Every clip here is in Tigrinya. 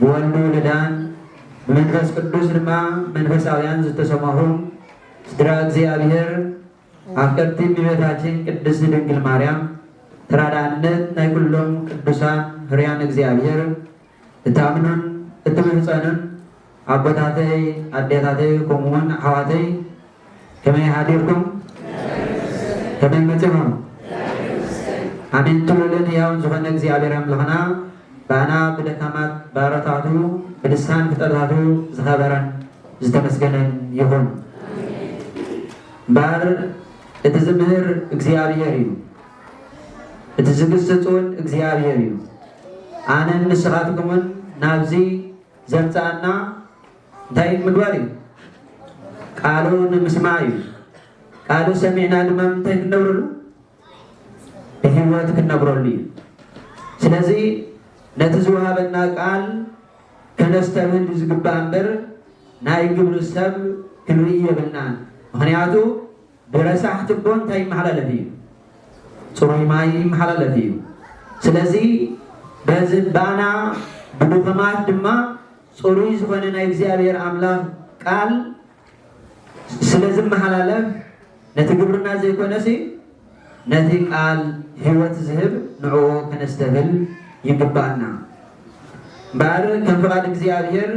ብወልዱ ልዳን ብመንፈስ ቅዱስ ድማ መንፈሳውያን ዝተሰማሁም ስድራ እግዚኣብሔር ኣፍቀርቲ እመቤታችን ቅድስት ድንግል ማርያም ተራዳእነት ናይ ኩሎም ቅዱሳን ህርያን እግዚኣብሔር እታምኑን እትምህፀኑን ኣቦታተይ ኣዴታተይ ከምኡ ውን ኣሕዋተይ ከመይ ሓዲርኩም ከመይ መጺኹም ኣሜን ትሉልን ህያውን ዝኾነ እግዚኣብሔር ኣምላኽና ባና ብደካማት ባሮታቱ ብልሳን ፍጠታቱ ዝኸበረን ዝተመስገነን ይኹን እምበር እቲ ዝምህር እግዚኣብሔር እዩ እቲ ዝግስጽ እውን እግዚኣብሔር እዩ ኣነን ንስኻትኩምን ናብዚ ዘምጽኣና እንታይ ኢሉ ምግባር እዩ? ቃሉ ንምስማዕ እዩ። ቃሉ ሰሚዕና ድማ ምንታይ ክንነብረሉ? ብህይወት ክንነብረሉ እዩ። ስለዚ ነቲ ዝወሃበና ቃል ከነስተብህል እዩ ዝግባእ እምበር ናይ ግብሪ ሰብ ክንርኢ የብልናን። ምክንያቱ ብረሳሕ ትቦ እንታይ ይመሓላለፍ እዩ? ፅሩይ ማይ ይመሓላለፍ እዩ። ስለዚ በዚ ባና ብድኹማት ድማ ፅሩይ ዝኾነ ናይ እግዚኣብሔር ኣምላኽ ቃል ስለ ዝመሓላለፍ ነቲ ግብርና ዘይኮነሲ ነቲ ቃል ህይወት ዝህብ ንዕኡ ከነስተብል ይግባኣና። እምበኣር ከም ፍቓድ እግዚኣብሔር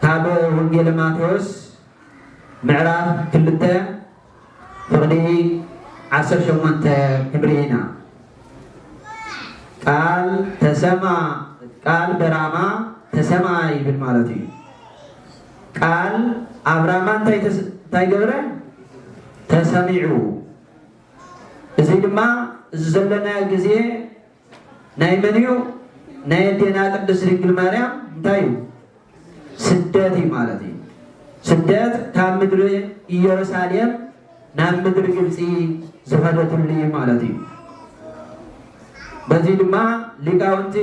ካብ ወንጌለ ማቴዎስ ምዕራፍ ክልተ ፍቕዲ ዓሰርተ ሸሞንተ ክንርኢ ኢና። ቃል ተሰማ ቃል በራማ ተሰማ ይብል ማለት እዩ። ቃል ኣብ ራማ እንታይ ተስ- እንታይ ገብረ ተሰሚዑ። እዚ ድማ እዚ ዘለናዮ ግዜ ናይ መን እዩ ናይ ኣዴና ቅድስት ድንግል ማርያም እንታይ እዩ ስደት እዩ ማለት እዩ ስደት ካብ ምድሪ ኢየሩሳሌም ናብ ምድሪ ግብፂ ዝኸደትሉ እዩ ማለት እዩ በዚ ድማ ሊቃውንቲ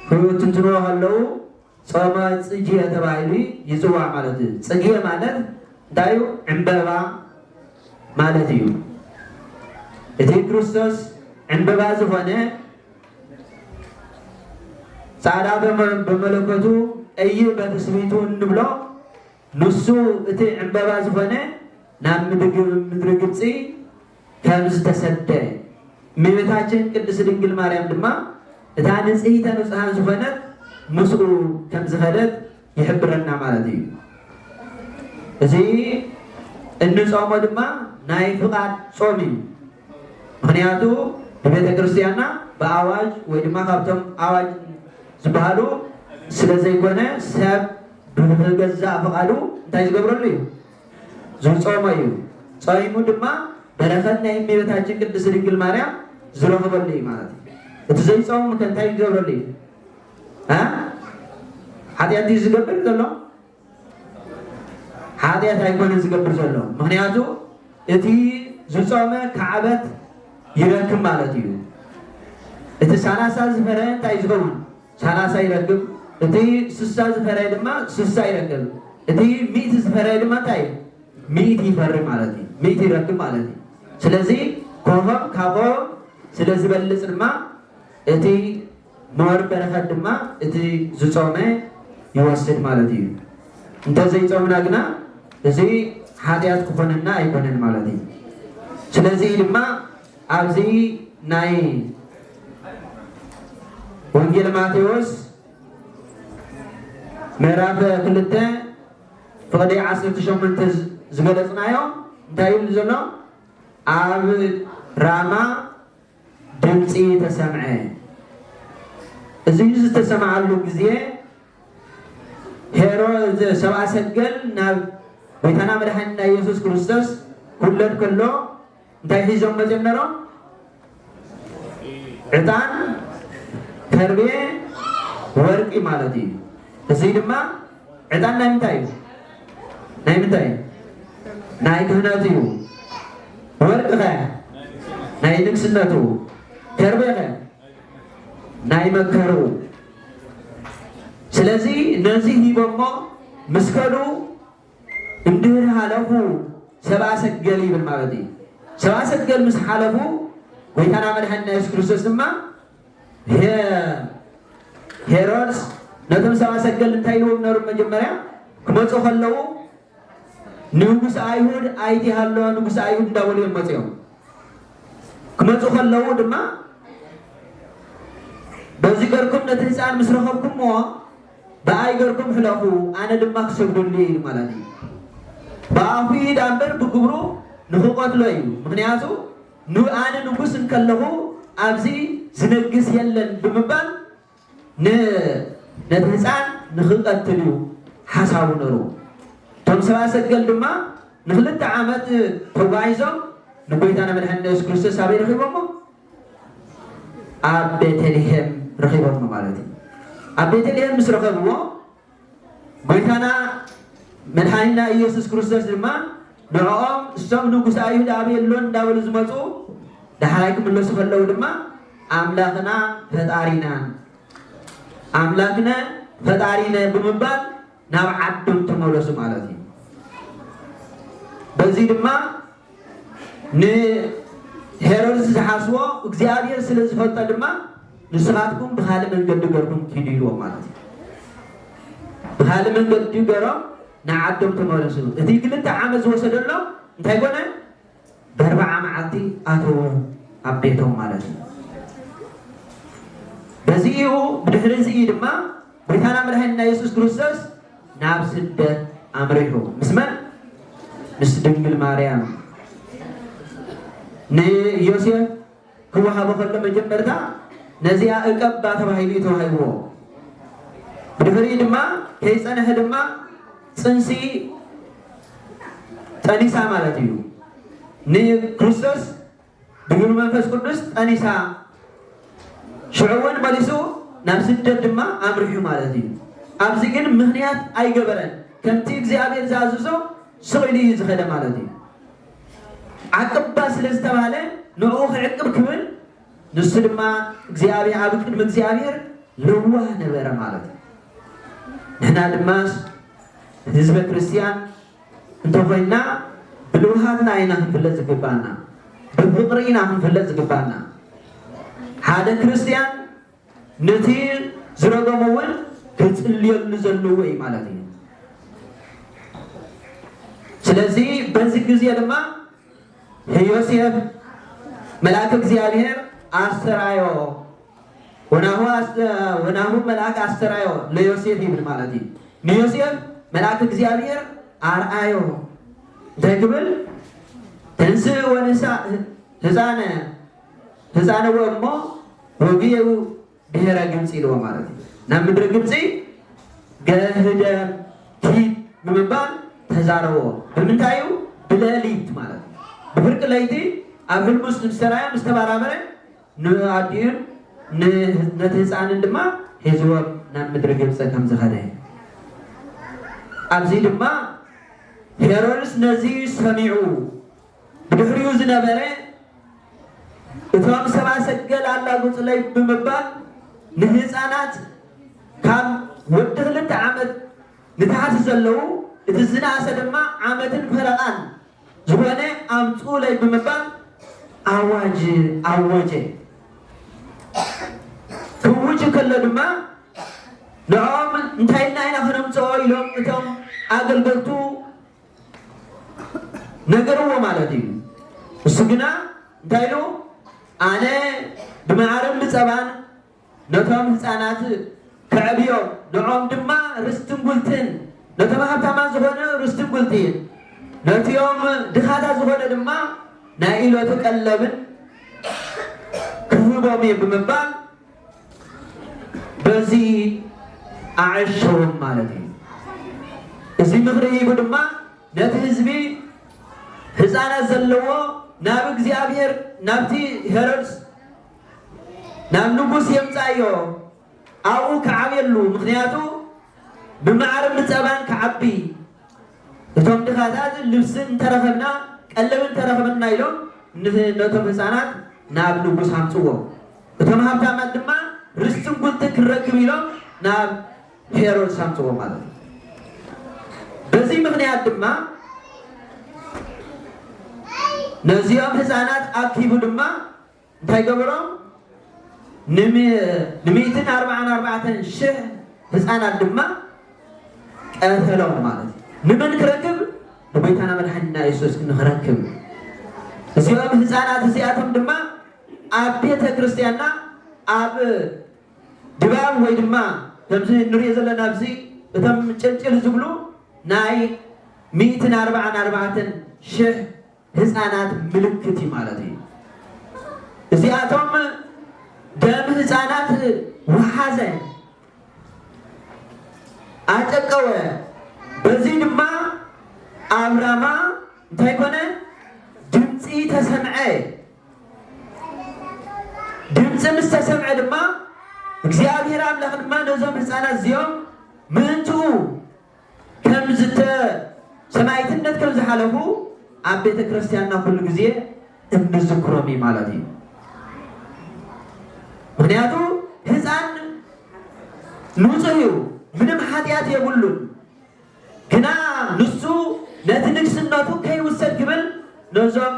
ፍትንትንዎ ከለዉ ጾመ ጽጌ ተባሂሉ ይጽዋዕ ማለት እዩ። ጽጌ ማለት እንታይ እዩ? ዕምበባ ማለት እዩ። እቲ ክርስቶስ ዕምበባ ዝኾነ ጻዕዳ በመለኮቱ ቀይሕ በትስብእቱ እንብሎ ንሱ እቲ ዕምበባ ዝኾነ ናብ ምድሪ ግብፂ ከም ዝተሰደ እመቤታችን ቅድስት ድንግል ማርያም ድማ እታ ንጽሂተ ንጹሃን ዝኾነት ምስኡ ከም ዝኸደት ይሕብረና ማለት እዩ። እዚ እንጾሞ ድማ ናይ ፍቓድ ጾም እዩ። ምክንያቱ ብቤተ ክርስቲያንና ብኣዋጅ ወይ ድማ ካብቶም ኣዋጅ ዝበሃሉ ስለ ዘይኮነ ሰብ ብገዛእ ፍቓዱ እንታይ ዝገብረሉ እዩ ዝጾሞ እዩ። ጾይሙ ድማ በረኸት ናይ እመቤታችን ቅድስት ድንግል ማርያም ዝረኽበሉ እዩ ማለት እዩ። እቲ ዘይጾምም ከ እንታይ ክገብረሉ እዩ? ሓጢኣት ድዩ ዝገብር ዘሎ? ሓጢኣት ኣይኮነን ዝገብር ዘሎ። ምክንያቱ እቲ ዝጾመ ካዕበት ይረክብ ማለት እዩ። እቲ ሰላሳ ዝፈረየ እንታይ ዝኸውን ሳላሳ ይረክብ እቲ ስሳ ዝፈረየ ድማ ስሳ ይረክብ እቲ ሚእቲ ዝፈረየ ድማ እንታይ እዩ ሚእቲ ይፈሪ ማለት እዩ ሚእቲ ይረክብ ማለት እዩ ስለዚ ኮሆም ካብኦም ስለ ዝበልፅ ድማ እቲ ሞር በረከት ድማ እቲ ዝፆመ ይወስድ ማለት እዩ እንተዘይፆምና ግና እዚ ሓጢኣት ክኾነና ኣይኮነን ማለት እዩ ስለዚ ድማ ኣብዚ ናይ ወንጌል ማቴዎስ ምዕራፍ ክልተ ፍቕዲ ዓሰርተ ሸሞንተ ዝገለፅናዮ እንታይ ይብል ዘሎ ኣብ ራማ ድምፂ ተሰምዐ እዚ ዝተሰምዓሉ ግዜ ሄሮ ሰብኣ ሰገል ናብ ቤታና መድሓኒና ኢየሱስ ክርስቶስ ክውለድ ከሎ እንታይ ሒዞም መጺኦም ነሮም ዕጣን ተርቤ ወርቂ ማለት እዩ እዙይ ድማ ዕጣን ናይ ምንታይ እዩ ናይ ምንታይ እዩ ናይ ክህነት እዩ ወርቂ ኸ ናይ ንግስነቱ ተርቤ ኸ ናይ መከሩ ስለዚ ነዚ ሂቦሞ ምስ ከዱ እንድህር ሃለፉ ሰብኣ ሰገል ይብል ማለት እዩ። ሰብኣ ሰገል ምስ ሓለፉ ጎይታና መድሓኒና የሱስ ክርስቶስ ድማ ሄሮድስ ነቶም ሰብኣ ሰገል እንታይ ኢልዎም ነሩ መጀመርያ ክመፁ ከለዉ ንንጉስ ኣይሁድ ኣይቲ ሃሎ ንጉስ ኣይሁድ እንዳበሉ እዮም መፅኦም ክመፁ ከለዉ ድማ በዚ ገርኩም ነቲ ህፃን ምስ ረኸብኩምዎ ደኣይ ገርኩም ሕለፉ ኣነ ድማ ክሰግደሉ እየ ኢሉ ማላት እዩ ብኣፉ እዩ ዳምበር ብግብሩ ንክቆትሎ እዩ ምክንያቱ ን ኣነ ንጉስ እንከለኩ ኣብዚ ዝነግስ የለን ብምባል ን ነቲ ህጻን ንክቀትል እዩ ሓሳቡ ነሩ እቶም ሰብኣ ሰገል ድማ ንክልተ ዓመት ተጓዒዞም ንጎይታና መድሓኒና የሱስ ክርስቶስ ኣበይ ረኪቦሞ ኣብ ቤተልሔም ረኺቦሞ ማለት እዩ። ኣብ ቤተልሔም ምስ ረኸብዎ ጎይታና መድሓኒና ኢየሱስ ክርስቶስ ድማ ንዕኦም እሶም ንጉሰ ኣይሁድ ኣበይ ኣሎ እንዳበሉ ዝመፁ ዳሕራይ ክምለሱ ከለዉ ድማ ኣምላኽና ፈጣሪናን ኣምላክነ ፈጣሪነ ብምባል ናብ ዓዶም ተመለሱ ማለት እዩ። በዚ ድማ ንሄሮድስ ዝሓስቦ እግዚኣብሔር ስለ ዝፈልጦ ድማ ንስኻትኩም ብኻልእ መንገዲ ገርኩም ኪዱ ኢልዎም ማለት እዩ። ብኻልእ መንገዲ ገሮም ንዓዶም ተመለሱ። እቲ ክልተ ዓመት ዝወሰደሎም እንታይ ኮነ? በርብዓ መዓልቲ ኣተዉ ኣብ ቤቶም ማለት እዩ። በዚ እዩ ብድሕሪ እዚ ድማ ጎይታና መድኃኒና ኢየሱስ ክርስቶስ ናብ ስደት ኣምሪሑ ምስ መን ምስ ድንግል ማርያም ንዮሴፍ ክወሃቦ ከሎ መጀመርታ ነዚኣ እቀባ ተባሂሉ እዩ ተዋሂብዎ። ብድሕሪኡ ድማ ከይጸንሐ ድማ ጽንሲ ጠኒሳ ማለት እዩ። ንክርስቶስ ብግብሪ መንፈስ ቅዱስ ጠኒሳ ሽዑ እውን መሊሱ ናብ ስደት ድማ ኣምሪሑ ማለት እዩ። ኣብዚ ግን ምኽንያት ኣይገበረን። ከምቲ እግዚኣብሔር ዝኣዘዞ ስቕ ኢሉ እዩ ዝኸደ ማለት እዩ። ዓቅባ ስለ ዝተባህለ ንዕኡ ክዕቅብ ክብል ንሱ ድማ እግዚኣብሔር ኣብ ቅድሚ እግዚኣብሔር ለዋህ ነበረ ማለት እዩ። ንሕና ድማ ህዝበ ክርስቲያን እንተኾይንና ብልውሃትና ኢና ክንፍለጥ ዝግባና፣ ብፍቅሪ ኢና ክንፍለጥ ዝግባና። ሓደ ክርስቲያን ነቲ ዝረገሞ ውን ክጽልየሉ ዘለዎ እዩ ማለት እዩ። ስለዚ በዚ ግዜ ድማ ንዮሴፍ መልኣከ እግዚኣብሔር ኣስተራዮ ወናሁ ኣስተ ወናሁ መልኣክ ኣስተራዮ ለዮሴፍ ይብል ማለት እዩ። ንዮሴፍ መልኣክ እግዚኣብሔር ኣርኣዮ እንታይ ክብል ተንስእ ወንሳ ህፃነ ተጻነወ እሞ ወግየው ብሔረ ግብጺ ኢልዎ ማለት እዩ ናብ ምድሪ ግብጺ ገህደም ኪድ ብምባል ተዛረቦ ብምንታይ እዩ ብለሊት ማለት እዩ ብፍርቂ ለይቲ ኣብ ህልም ውስጥ ምስ ተራእየ ምስ ተባራበረ ንኣዲኡን ነቲ ህፃንን ድማ ሒዝዎም ናብ ምድሪ ግብፂ ከም ዝኸደ ኣብዚ ድማ ሄሮድስ ነዚ ሰሚዑ ብድሕሪኡ ዝነበረ እቶም ሰብኣ ሰገል ኣላጉጹለይ ብምባል ንህጻናት ካብ ወዲ ክልተ ዓመት ንታሕቲ ዘለዉ እቲ ዝነኣሰ ድማ ዓመትን ፈረቓን ዝኾነ ኣምጽኡለይ ብምባል ኣዋጅ ኣወጀ። ክውጅ ከሎ ድማ ንዕኦም እንታይ ኢልና ኢና ክነምጽኦ ኢሎም እቶም ኣገልገልቱ ነገርዎ ማለት እዩ። ንሱ ግና እንታይ ኢሉ? ኣነ ብመዓርን ብጸባን ነቶም ህጻናት ከዕብዮም፣ ንዖም ድማ ርስትን ጉልትን፣ ነቶም ሃብታማት ዝኾነ ርስትን ጉልትን፣ ነቲኦም ድኻታት ዝኾነ ድማ ናይ ኢሎት ቀለብን ክህቦም እየ ብምባል በዚ ኣዐሸዎም ማለት እዩ። እዚ ምኽሪ ሂቡ ድማ ነቲ ህዝቢ ህፃናት ዘለዎ ናብ እግዚኣብሔር ናብቲ ሄሮድስ ናብ ንጉስ የምፃዮ ኣብኡ ክዓብየሉ ምክንያቱ ብማዕርን ብፀባን ክዓቢ እቶም ድኻታት ልብሲ እንተረኸብና ቀለብ እንተረኸብና ኢሎም ነቶም ህፃናት ናብ ንጉስ ኣምፅዎ። እቶም ሃብታማት ድማ ርስትን ጉልትን ክንረክብ ኢሎም ናብ ሄሮድስ ኣምጽእዎ ማለት እዩ። በዚ ምኽንያት ድማ ነዚኦም ህፃናት ኣኪቡ ድማ እንታይ ገበሮም? ንምእትን ኣርባዓን ኣርባዕተን ሽሕ ህፃናት ድማ ቀተሎም ማለት እዩ። ንመን ክረክብ? ንጎይታና መድሓኒና የሱስ ንክረክብ እዚኦም ህፃናት እዚኣቶም ድማ ኣብ ቤተ ክርስትያንና ኣብ ድባብ ወይ ድማ ከምዚ እንሪኦ ዘለና ኣብዚ እቶም ጭልጭል ዝብሉ ናይ ሚእትን ኣርባዓን ኣርባዕተን ሽሕ ህፃናት ምልክት እዩ ማለት እዩ። እዚኣቶም ደም ህፃናት ውሓዘ፣ ኣጨቀወ፣ በዚ ድማ ኣብ ራማ እንታይ ኮነ? ድምፂ ተሰምዐ። ድምጺ ምስ ተሰምዐ ድማ እግዚኣብሄር ኣምላኽ ድማ ነዞም ህፃናት እዚኦም ምእንትኡ ከም ዝተ ሰማይትነት ከም ዝሓለፉ ኣብ ቤተ ክርስቲያንና ኩሉ ግዜ እንዝክሮም እዩ ማለት እዩ። ምክንያቱ ህፃን ንፁህ እዩ፣ ምንም ሓጢኣት የብሉን። ግና ንሱ ነቲ ንግስነቱ ከይውሰድ ክብል ነዞም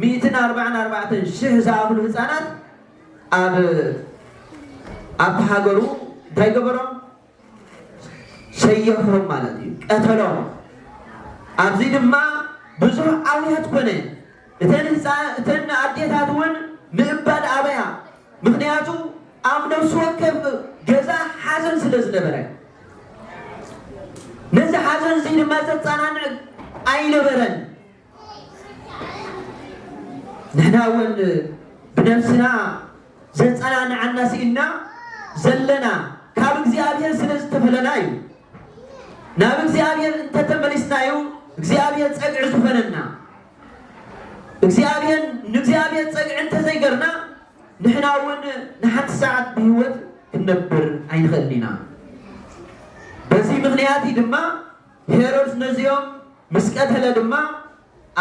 ሚእትን ኣርባዓን ኣርባዕተን ሽሕ ዝኣኽሉ ህጻናት ኣብ ኣብቲ ሃገሩ እንታይ ገበሮም? ሰየፎም ማለት እዩ፣ ቀተሎም። ኣብዚ ድማ ብዙሕ ኣውያት ኮነ። እተን ህጻ- እተን ኣዴታት እውን ምእባድ ኣበያ፣ ምኽንያቱ ኣብ ነፍሲ ወከፍ ገዛ ሓዘን ስለ ዝነበረ። ነዚ ሓዘን እዚ ድማ ዘጸናንዕ ኣይነበረን። ንሕና እውን ብነብስና ዘጸናንዓና ስኢንና ዘለና ካብ እግዚኣብሔር ስለ ዝተፈለና እዩ። ናብ እግዚኣብሔር እንተተመሊስና እዩ እግዚኣብሔር ጸግዒ ዝኾነና። እግዚኣብሔር ንእግዚኣብሔር ጸግዒ እንተዘይገርና ንሕና እውን ንሓንቲ ሰዓት ብህይወት ክንነብር ኣይንኽእልን ኢና። በዚ ምኽንያት እዩ ድማ ሄሮድስ ነዚኦም ምስ ቀተለ ድማ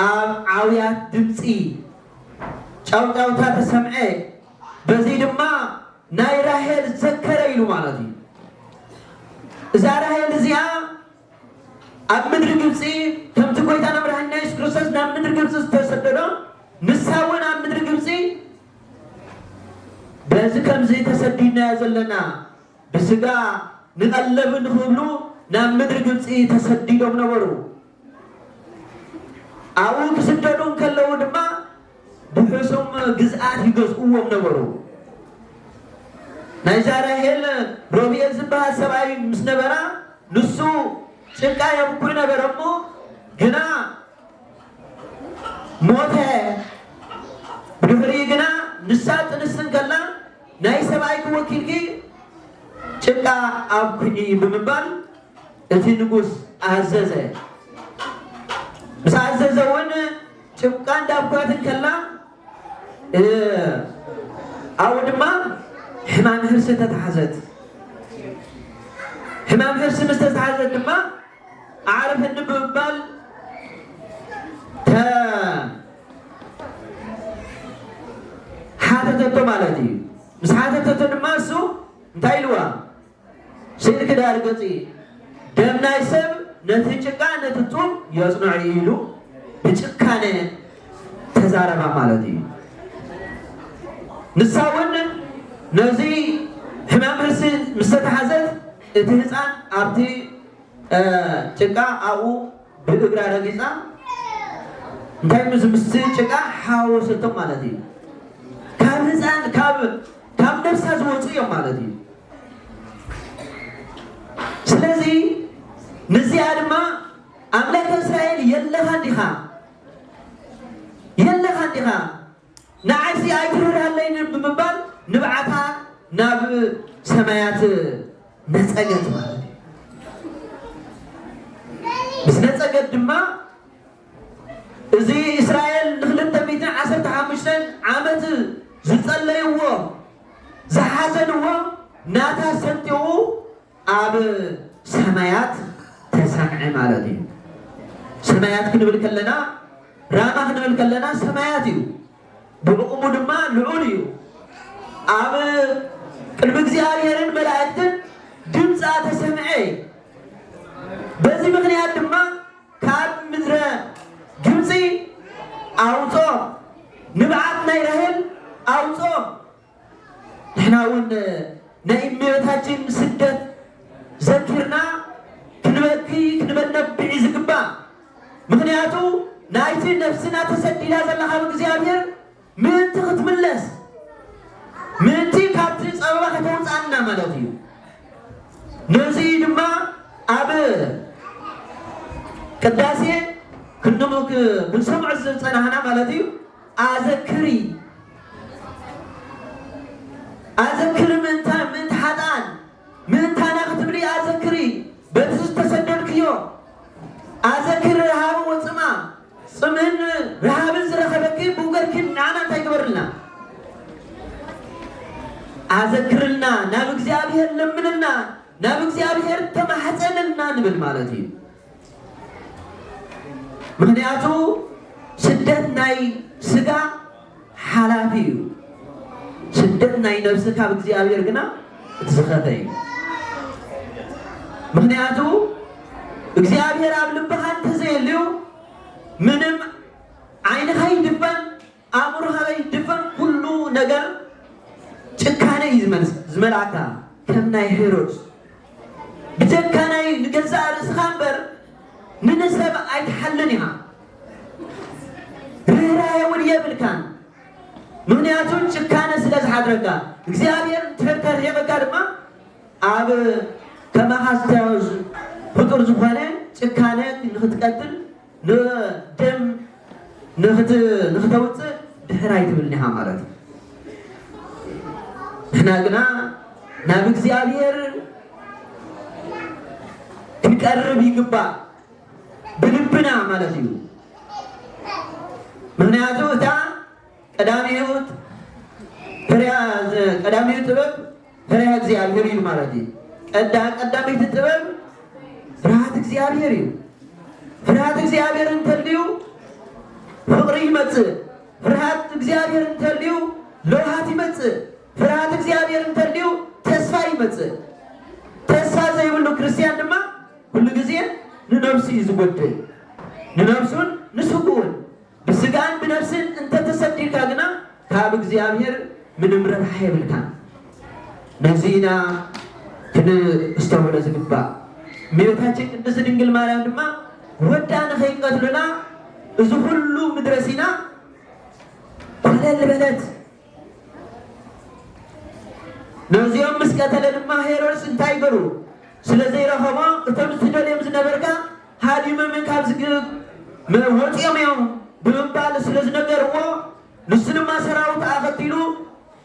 ኣብ ዓውያት ድምጺ ጫውጫውታ ተሰምዐ፣ በዚ ድማ ናይ ራሄል ዘከረ ኢሉ ማለት እዩ። እዛ ራሄል እዚኣ ኣብ ምድሪ ግብጺ ከምቲ ጎይታና መድኃኒና ኢየሱስ ክርስቶስ ናብ ምድሪ ግብጺ ዝተሰደዶ ንሳውን ኣብ ምድሪ ግብጺ በዚ ከምዚ ተሰዲድናዮ ዘለና ብሥጋ ንቐለብ እንክብሉ ናብ ምድሪ ግብጺ ተሰዲዶም ነበሩ። ኣብኡ ክስደዱ እንከለዉ ድማ ብሑሱም ግዝኣት ይገዝእዎም ነበሩ። ናይዛ ራሄል ሮብኤል ዝበሃል ሰብኣይ ምስ ነበራ ንሱ ጭቃ የብኩዕ ነበረ እሞ ግና ሞተ። ብድሕሪኡ ግና ንሳ ጥንስቲ እንከላ ናይ ሰብኣይኪ ወኪልኪ ጭቃ ኣብኩዒ ብምባል እቲ ንጉስ ኣዘዘ። ምስ ኣዘዘ እውን ጭቃ እንዳብኩዐት እንከላ ኣብኡ ድማ ሕማም ህርሲ ተታሕዘት። ሕማም ህርሲ ምስ ተታሕዘት ድማ ኣዕርፈኒ ብምባል ሓተተቶ ማለት እዩ። ምስ ሓተተቶ ድማ እሱ እንታይ ኢልዋ? ስእልኪ ዳር ገጽ እዩ ደም ናይ ሰብ ነቲ ጭቃ ነቲ ጡብ የጽንዖ እዩ ኢሉ ብጭካነ ተዛረባ ማለት እዩ። ንሳ እውን ነዚ ሕማም ርእሲ ምስ ተታሕዘት እቲ ህጻን ኣብቲ ጭቃ ኣብኡ ብእግራ ረጊጻ እንታይ ምስ ምስቲ ጭቃ ሓዋወሰቶ ማለት እዩ። ካብ ህጻን ካብ ካብ ነብሳ ዝወጹ እዮም ማለት እዩ ስለዚ ንዚኣ ድማ ኣምላክ እስራኤል የለኻ ዲኻ የለኻ ዲኻ ንዓይሲ ኣይትርህራለይ ብምባል ንብዓታ ናብ ሰማያት ነጸገት ማለት እዩ ምስ ነጸገት ድማ እዚ እስራኤል ንክልተ ሚእትን ዓሰርተ ሓሙሽተን ዓመት ዝጸለይዎ ዝሓዘንዎ ናታ ሰንጢቑ ኣብ ሰማያት ተሰምዐ ማለት እዩ። ሰማያት ክንብል ከለና ራማ ክንብል ከለና ሰማያት እዩ። ብዕቕሙ ድማ ልዑል እዩ። ኣብ ቅድሚ እግዚኣብሔርን መላእክትን ድምፃ ተሰምዐ። በዚ ምክንያት ድማ ካብ ምድረ ግብጺ ኣውጽኦም፣ ንብዓት ናይ ራሔል ኣውጽኦም። ንሕና እውን ናይ እመቤታችን ስደት ዘኪርና ክንበኪ ክንበነብዒ ዝግባእ ምክንያቱ ናይቲ ነፍስና ተሰዲዳ ዘላ ካብ እግዚኣብሔር ምእንቲ ክትምለስ ምእንቲ ካብቲ ጸበባ ከተውጽኣና ማለት እዩ። ነዚ ድማ ኣብ ቅዳሴ ክንድሙ ክንሰምዖ ዝጸናህና ማለት እዩ ኣዘክሪ ኣዘክሪ ምእንታ ምእንቲ ሓጥኣን ምእንታና ክትብሊ ኣዘክሪ በቲ ዝተሰደድክዮ ኣዘክሪ ረሃቡ ወጽማ ጽምእን ረሃብን ዝረኸበኪ ብውገርኪ ንዓና እንታይ ግበርልና ኣዘክርልና ናብ እግዚኣብሔር ለምንልና ናብ እግዚኣብሔር ተማሕፀንልና ንብል ማለት እዩ ምክንያቱ ስደት ናይ ስጋ ሓላፊ እዩ ስደት ናይ ነብሲ ካብ እግዚኣብሔር ግና እቲ ዝኸፈ እዩ ምክንያቱ እግዚኣብሔር ኣብ ልብኻ እንተዘየልዩ ምንም ዓይንኻ ይድፈን ኣእምሮኻ ይድፈን ኩሉ ነገር ጭካነ እዩ ዝመልስ ዝመልኣካ ከም ናይ ሄሮድስ ብጀካ ናይ ንገዛእ ርእስኻ እምበር ንንሰብ ኣይትሓልን ኢኻ ርኅራኄ እውን የብልካን፣ ምኽንያቱ ጭካነ ስለ ዝሓድረካ። እግዚኣብሔር እንድሕር ተርሒቕካ ድማ ኣብ ከማኻ ዝታዮ ፍጡር ዝኾነ ጭካነ ንኽትቀትል ንደም ንኽተውፅእ ድሕር ኣይትብልን ኢኻ ማለት እዩ። ንሕና ግና ናብ እግዚኣብሔር ክንቀርብ ይግባእ። ብልብና ማለት እዩ ምክንያቱ እታ ቀዳሚት ቀዳሚት ጥበብ ፍሬያ እግዚኣብሔር እዩ ማለት እዩ ቀዳ ቀዳሚት ጥበብ ፍርሃት እግዚኣብሔር እዩ ፍርሃት እግዚኣብሔር እንተልዩ ፍቅሪ ይመጽእ ፍርሃት እግዚኣብሔር እንተልዩ ለውሃት ይመጽእ ፍርሃት እግዚኣብሔር እንተልዩ ተስፋ ይመጽእ ተስፋ ዘይብሉ ክርስቲያን ድማ ኩሉ ግዜ ንነብሱ እዩ ዝጎድል ንነብሱን ንስጉኡን ብስጋን ብነብስን እንተ ተሰዲርካ ግና ካብ እግዚኣብሔር ምንም ረብሓ የብልካን ነዚ ኢና ክንስተውዕሎ ዝግባእ እመቤታችን ቅድስት ድንግል ማርያም ድማ ወዳ ንከይቀትሉና እዚ ኩሉ ምድረ ሲና ኮለል በለት ነዚኦም ምስ ቀተለ ድማ ሄሮድስ እንታይ ገሩ ስለ ዘይረኸቦ እቶም ዝትደልዮም ዝነበርካ ሃዲምም ካብ ዝግብ ወፂኦም እዮም ብምባል ስለ ዝነገርዎ ንሱ ድማ ሰራዊት ኣኸቲሉ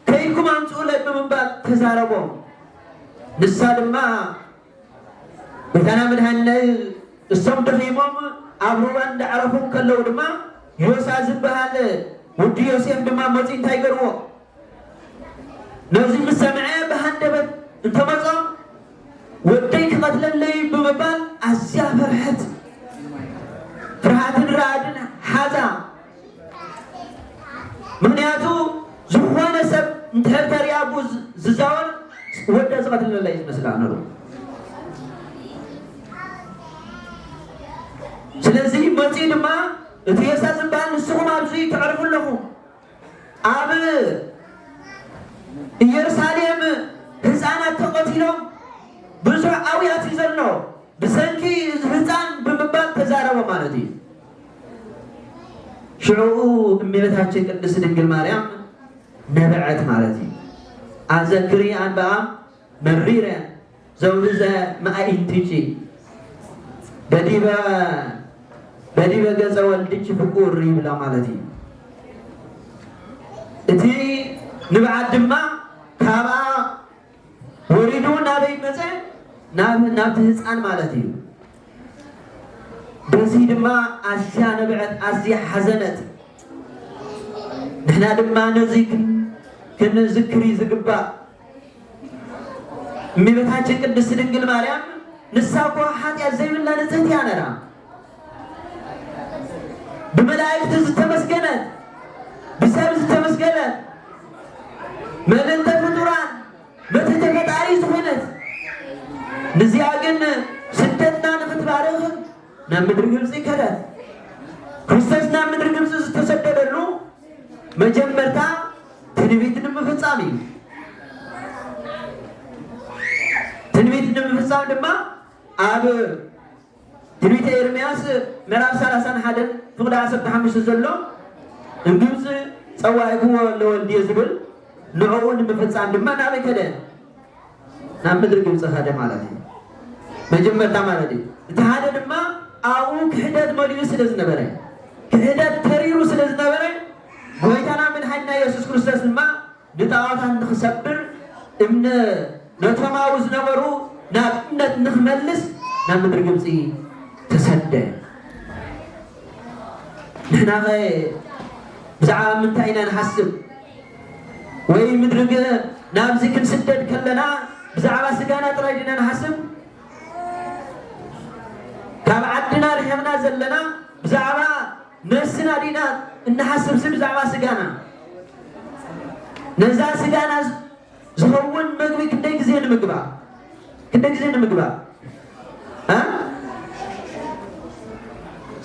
ከይድኩም ኣምፅኡለይ ብምባል ተዛረቦም። ንሳ ድማ ጎይታና መድኃኒና እሶም ደኺሞም ኣብ ሩባ እንዳዕረፉ እንከለዉ ድማ ዮሳ ዝበሃል ውዲ ዮሴፍ ድማ መጺኡ እንታይ ገርዎ ነዚ ምስ ሰምዐ ብሃንደበት እንተመጾም ወደይ ክቐትለለይ ብምባል ኣዝያ ፈርሐት ፍርሃትን ራዕድን ሓዛ ምኽንያቱ ዝኾነ ሰብ እንድሕር ተሪኣ ብኡ ዝዛወር ወዳ ዝቐትል ዘላ እዩ ዝመስላ ነሩ ስለዚ መፅኡ ድማ እቲ የሳ ዝበሃል ንስኹም ኣብዚ ተዕርፉ ኣለኹም ኣብ ኢየሩሳሌም ህፃናት ተቐቲሎም ብዙሕ ኣውያት እዩ ዘሎ ብሰንኪ ህፃን ብምባል ተዛረበ ማለት እዩ ሽዕኡ እመቤታችን ቅድስት ድንግል ማርያም ነበዐት ማለት እዩ። ኣዘክሪ ኣንበኣ መሪረ ዘውርዘ መኣኢንቲኪ በዲበ በዲበ ገጸ ወልድኪ ፍቁር ይብላ ማለት እዩ። እቲ ንብዓት ድማ ካብኣ ወሪዱ ናበይ መጸ? ናብ ናብቲ ህጻን ማለት እዩ። በዚ ድማ ኣዝያ ነብዐት፣ ኣዝያ ሓዘነት። ንሕና ድማ ነዚ ክንዝክሪ ዝግባእ እመቤታችን ቅድስት ድንግል ማርያም ንሳ እኮ ሓጢኣት ዘይብላ ንጽህት እያ ነራ። ብመላእክቲ ዝተመስገነት ብሰብ ዝተመስገነት መልእልተ ፍጡራን መትሕተ ፈጣሪ ዝኾነት ንዚኣ ግን ስደትና ንኽትባርኽ ናብ ምድሪ ግብፂ ከደት። ክርስቶስ ናብ ምድሪ ግብፂ ዝተሰደደሉ መጀመርታ ትንቢት ንምፍፃም እዩ። ትንቢት ንምፍፃም ድማ ኣብ ትንቢተ ኤርምያስ ምዕራፍ ሰላሳን ሓደን ፍቕዲ ዓሰርተ ሓሙሽተ ዘሎ ንግብፂ ፀዋዒክዎ ለወልድየ ዝብል ንዕኡ ንምፍፃም ድማ ናበይ ከደ? ናብ ምድሪ ግብፂ ከደ ማለት እዩ። መጀመርታ ማለት እዩ። እቲ ሓደ ድማ ኣብኡ ክሕደት መሊኡ ስለ ዝነበረ ክሕደት ተሪሩ ስለ ዝነበረ ጎይታና መድሓኒና የሱስ ክርስቶስ ድማ ንጣዖታት ንኽሰብር እምነ ነቶማዊ ዝነበሩ ናብ እምነት ንኽመልስ ናብ ምድሪ ግብጺ ተሰደ። ንሕናኸ ብዛዕባ ምንታይ ኢና ንሓስብ? ወይ ምድሪ ገ ናብዚ ክንስደድ ከለና ብዛዕባ ስጋና ጥራይ ዲና ንሓስብ? ካብ ዓድና ርሒቕና ዘለና ብዛዕባ ነብስና ዲና እንሓስብሲ ብዛዕባ ስጋና? ነዛ ስጋና ዝኸውን መግቢ ክንደይ ግዜ ንምግባ? ክንደይ ግዜ ንምግባ? እ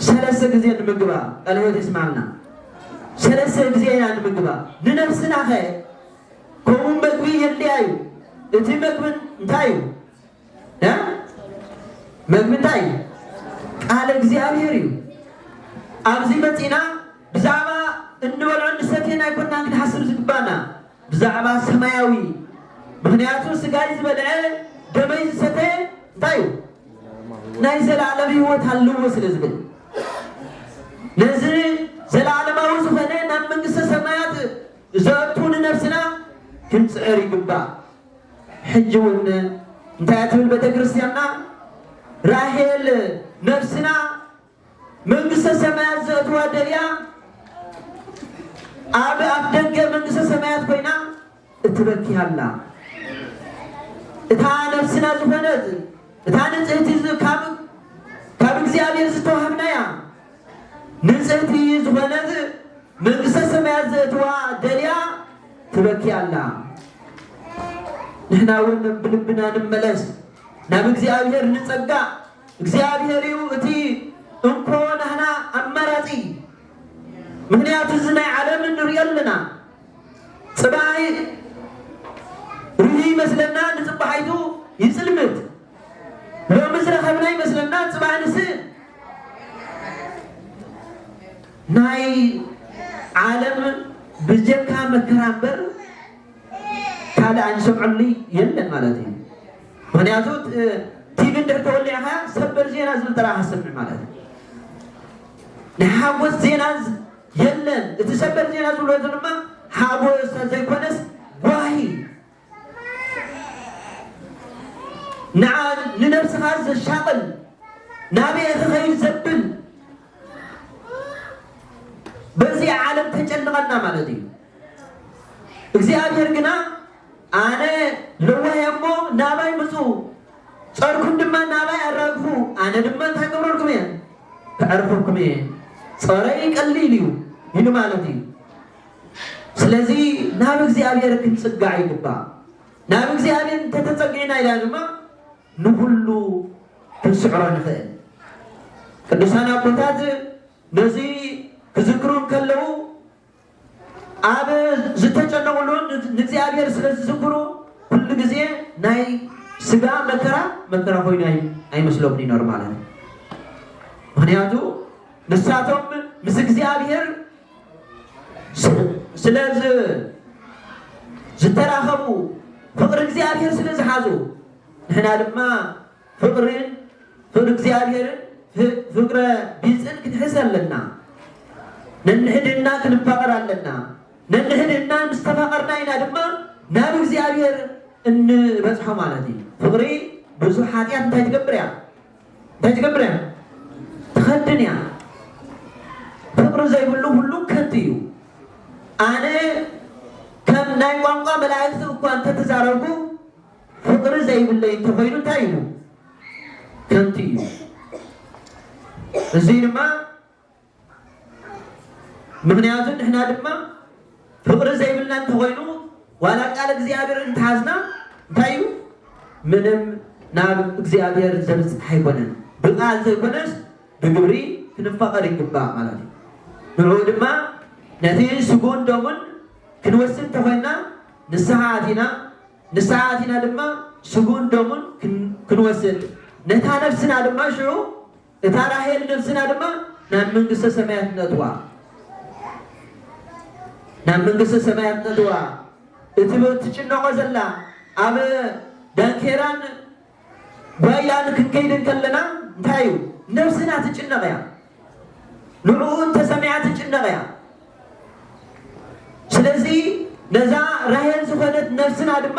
ሰለስተ ግዜ ንምግባ። ቃለ ሕይወት የስምዓልና። ሰለስተ ግዜ ኢና ንምግባ። ንነብስናኸ ከምኡ መግቢ የድልያ እዩ። እቲ መግቢ እንታይ እዩ? መምንታይ እዩ ቃል እግዚኣብሔር እዩ ኣብዚ መፂና ብዛዕባ እንበልዖ እንሰትየን ኣይኮና ክንሓስብ ዝግባና ብዛዕባ ሰማያዊ ምክንያቱ ስጋይ ዝበልዐ ደመይ ዝሰተ እንታይ እዩ ናይ ዘለዓለም ህይወት ኣለዎ ስለ ዝብል ነዚ ዘለዓለማዊ ዝኾነ ናብ መንግስተ ሰማያት ዘእቱ ንነብስና ክንፅዕር ይግባእ ሕጂ ውን እንታይ እያ ትብል ቤተክርስትያንና ራሄል ነብስና መንግስተ ሰማያት ዘእትዋ ደልያ ኣብ ኣፍደገ መንግስተ ሰማያት ኮይና እትበኪ ኣላ እታ ነብስና ዝኾነት እታ ንጽህቲ ካብ ካብ እግዚኣብሔር ዝተዋህብናያ ንጽህቲ ዝኾነት መንግስተ ሰማያት ዘእትዋ ደልያ ትበኪ ኣላ። ንሕና እውን ብልብና ንመለስ ናብ እግዚኣብሔር ንጸጋእ እግዚኣብሔር እዩ እቲ እንኮ ናህና ኣማራጺ ምክንያቱ እዚ ናይ ዓለም ንሪኦ ኣለና ጽባሕ ርህዩ ይመስለና ንጽባሒቱ ይጽልምት ሎሚ ዝረኸብና ይመስለና ፅባሕ ንስእን። ናይ ዓለም ብጀካ መከራ እምበር ካልእ ኣንሰምዐሉ የለን ማለት እዩ። ምክንያቱ ቲቪ እንድሕር ተወሊዕካ ሰበር ዜና ዝብል ጥራሕ ኣሰምዕ ማለት እዩ። ናይ ሓጎስ ዜና የለን። እቲ ሰበር ዜና ዝብሎ ድማ ሓጎስ ዘይኮነስ ጓሂ ንዓን ንነብስኻን ዘሻቕል ናበይ ክኸይድ ዘብል በዚ ዓለም ተጨንቐና ማለት እዩ። እግዚኣብሔር ግና ኣነ ለዋህ እሞ ናባይ ምፁ ፀርኩም ድማ ናባይ ኣራግፉ ኣነ ድማ እንታይ ገብረልኩም እየ ክዕርፈኩም እየ ፀረይ ቀሊል እዩ ይሉ ማለት እዩ። ስለዚ ናብ እግዚኣብሔር ክንጽጋዕ ይግባእ። ናብ እግዚኣብሔር እንተተጸጊዕና ኢላ ድማ ንኹሉ ክንስዕሮ ንኽእል። ቅዱሳን ኣቦታት ነዚ ክዝክሩ እንከለዉ ኣብ ዝተጨነቑሉ ንእግዚኣብሔር ስለ ዝዝክሩ ኩሉ ግዜ ናይ ስጋ መከራ መከራ ኮይኑ ኣይመስሎም ይነሩ ማለት እዩ። ምክንያቱ ንሳቶም ምስ እግዚኣብሔር ስለ ዝተራኸቡ ፍቕሪ እግዚኣብሔር ስለ ዝሓዙ ንሕና ድማ ፍቕርን ፍቕሪ እግዚኣብሔርን ፍቅረ ቢፅን ክንሕዝ ኣለና። ነንሕድና ክንፋቐር ኣለና። ነንሕድና ምስ ተፋቐርና ኢና ድማ ናብ እግዚኣብሔር እንበፅሖ ማለት እዩ። ፍቕሪ ብዙሕ ሓጢኣት እንታይ ትገብር እያ? እንታይ ትገብር እያ? ትኸድን እያ። ፍቕሪ ዘይብሉ ዅሉ ከንቱ እዩ። ኣነ ከም ናይ ቋንቋ መላእኽቲ እኳ እንተ ተዛረብኩ፣ ፍቕሪ ዘይብለይ እንተ ዀይኑ እንታይ እዩ? ከንቱ እዩ። እዙይ ድማ ምኽንያቱ ንሕና ድማ ፍቕሪ ዘይብልና እንተኾይኑ ዋላ ቃል እግዚኣብሔር እንተሓዝና እንታይ እዩ ምንም ናብ እግዚኣብሔር ዘብጽሕ ኣይኮነን። ብቃል ዘይኮነስ ብግብሪ ክንፋቐር ይግባእ ማለት እዩ። ንዕኡ ድማ ነቲ ስግኡን ደሙን ክንወስድ እንተኾይንና ንስሓ ኣቲና ንስሓ ኣቲና ድማ ስግኡን ደሙን ክንወስድ ነታ ነፍስና ድማ ሽዑ እታ ራሄል ነብስና ድማ ናብ መንግስተ ሰማያት ነእትዋ ናብ መንግስተ ሰማያት ነእትዋ እቲ ብ እትጭነቆ ዘላ ኣብ ዳንኬራን ጓያን ክንከይድ እንከለና እንታይ እዩ ነብስና ትጭነቅ እያ ንዕኡ እንተሰሚዓ ትጭነቅ እያ ስለዚ ነዛ ራሄል ዝኮነት ነብስና ድማ